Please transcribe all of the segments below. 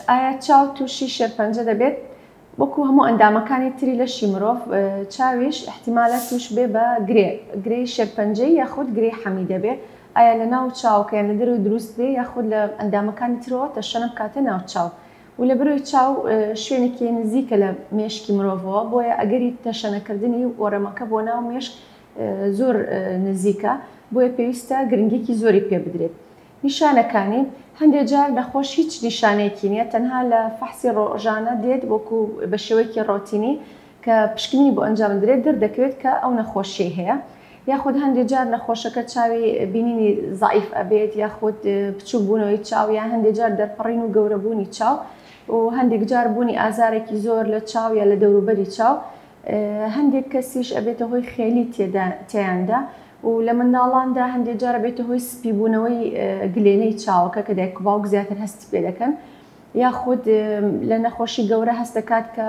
ئایا چاو تووشی شێرپەنجە دەبێت؟ وەکو هەموو ئەندامەکانی تری لەشی مرۆڤ، چاویش ئیحتیمالە تووش بێ بە گرێ، گرێی شێرپەنجەیی یاخود گرێی حەمی دەبێ، ئایا لە ناو چاوەکە یان لە دەرەوەی دروست دێ یاخود لە ئەندامەکانی ترەوە تەشەنە بکاتە ناو چاو و لە برۆی چاو شوێنێکی نزیکە لە مێشکی مرۆڤەوە بۆیە ئەگەری تەشەنە کردنی وەڕەمەکە بۆ ناو مێشک زۆر نزیکە بۆیە پێویستە گرنگیەکی زۆری پێ بدرێت نیشانەکانی، هەندێ جار نەخۆش هیچ نیشانەیەکی نییە تەنها لە فەحسی ڕۆژانە دێت وەکو بە شێوەیەکی ڕۆتینی کە پشکنینی بۆ ئەنجامدرێت دەردەکەوێت کە ئەو نەخۆشیەی هەیە یاخود هەندێ جار نەخۆشەکە چاوی بینینی زەعیف ئەبێت یاخود بچوک بوونەوەی چاو یان هەندێ جار دەرپەڕین و گەورەبوونی چاو و هەندێک جار بوونی ئازارێکی زۆر لە چاو یا لە دەوروبەری چاو هەندێک کەسیش ئەبێتە هۆی خێلی تێیاندا و لە منداڵاندا هەندێک جار ئەبێتە هۆی سپیبوونەوەی گلێنەی چاوەکە کە دایک و باوک زیاتر هەستی پێ دەکەن یاخود لە نەخۆشی گەورە هەست دەکات کە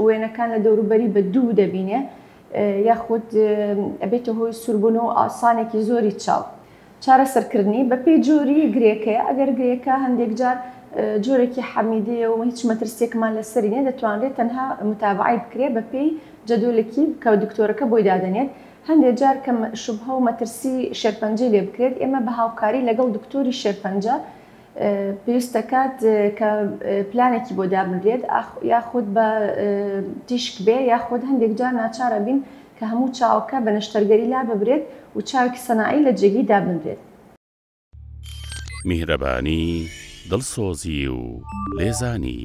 وێنەکان لە دەوروبەری بە دوو دەبینێ یاخود ئەبێتە هۆی سوربوون و ئاسانێکی زۆری چاو. چارەسەرکردنی بەپێی جۆری گرێکەیە، ئەگەر گرێکە هەندێکجار جۆرێکی حەمیدەیە و هیچ مەترسییەکمان لەسەری نییە، دەتوانرێت تەنها متابەعەی بکرێت بەپێی جەدۆلێکی کە دکتۆرەکە بۆی دادەنێت، هەندێک جار کە شوبهە و مەترسی شێرپەنجەی لێ بکرێت، ئێمە بە هاوکاری لەگەڵ دکتۆری شێرپەنجە پێویست دەکات کە پلانێکی بۆ دابنرێت، یاخود بە تیشک بێ، یاخود هەندێکجار ناچار ئەبین کە هەموو چاوەکە بە نەشتەرگەری لا ببرێت و چاوێکی سەناعی لە جێگەی دابنرێت. میهرەبانی، دڵسۆزی و لێزانی.